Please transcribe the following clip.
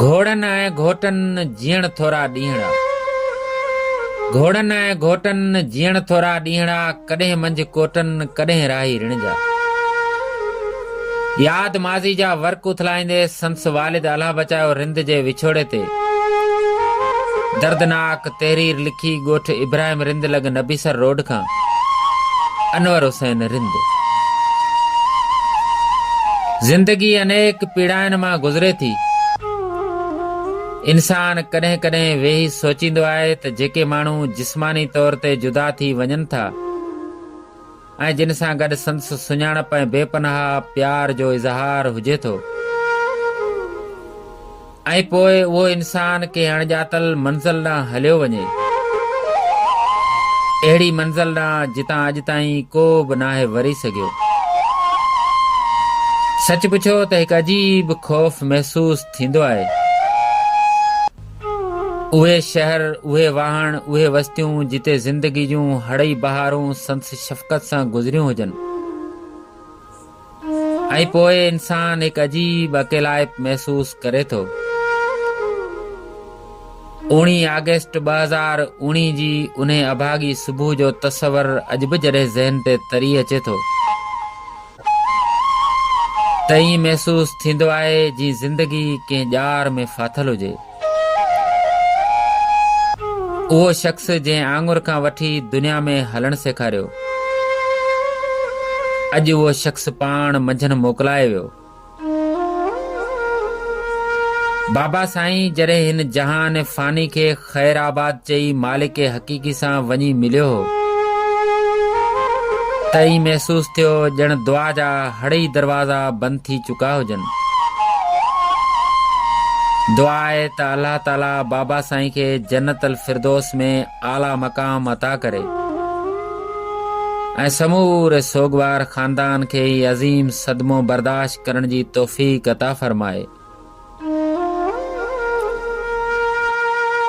گهوڙن ۽ گهوٽن جيئڻ ٿورا ڏينهڙا گهوڙن ۽ گهوٽن جيئڻ ٿورا ڏينهڙا ڪڏهن منجهه ڪوٽن ڪڏهن راهي رڻ جا ياد ماضي جا ورق اٿلائيندي سندس والد الله بچايو رند جي وڇوڙي تي دردناڪ تحرير لکي ڳوٺ ابراهيم رند لڳ نبيسر روڊ کان انور حسين رند. زندگي انيڪ پيڙاين مان گذري ٿي. انسان ڪڏهن ڪڏهن ويهي سوچيندو آهي ته جيڪي ماڻهو جسماني طور تي جدا ٿي وڃن ٿا ۽ جن سان گڏ سندس سڃاڻپ ۽ بي پناهه پيار جو اظهار هجي ٿو، ۽ پوء اهو انسان ڪنهن اڻڄاتل منزل ڏانهن هليو وڃي. اهڙي منزل ڏانهن جتان اڄ تائين ڪو به ناهي وري سگهيو. سچ پڇو ته هڪ عجيب خوف محسوس ٿيندو آهي. اهي شهر، اهي واهڻ، اهي وستيون جتي زندگي جون هڙئي بهارون سندس شفقت سان گذريون هجن. ۽ پوء انسان هڪ عجيب اڪيلائپ محسوس ڪري ٿو. اوڻيهه آگسٽ ٻه هزار اوڻيهه جي انهي اڀاڳي صبح جو تصور اڄ به جڏهن ذهن تي تري اچي ٿو ته ائين محسوس ٿيندو آهي جيئن زندگي ڪنهن ڄار ۾ ڦاٿل هجي. اهو شخص جنهن آڱر کان وٺي دنيا ۾ هلڻ سيکاريو، اڄ اهو شخص پاڻ منجهن موڪلائي ويو. بابا سائين جڏهن هن جهان فاني کي خير آباد چئي مالڪ حقيقي سان وڃي مليو هو ته ائين محسوس ٿيو ڄڻ دعا جا هڙئي دروازا بند ٿي چڪا هجن. دعا آهي ته الله تعالي بابا سائين کي جنت الفردوس ۾ اعليٰ مقام عطا ڪري ۽ سموري سوگوار خاندان کي هي عظيم صدمو برداشت ڪرڻ جي توفيق عطا فرمائي.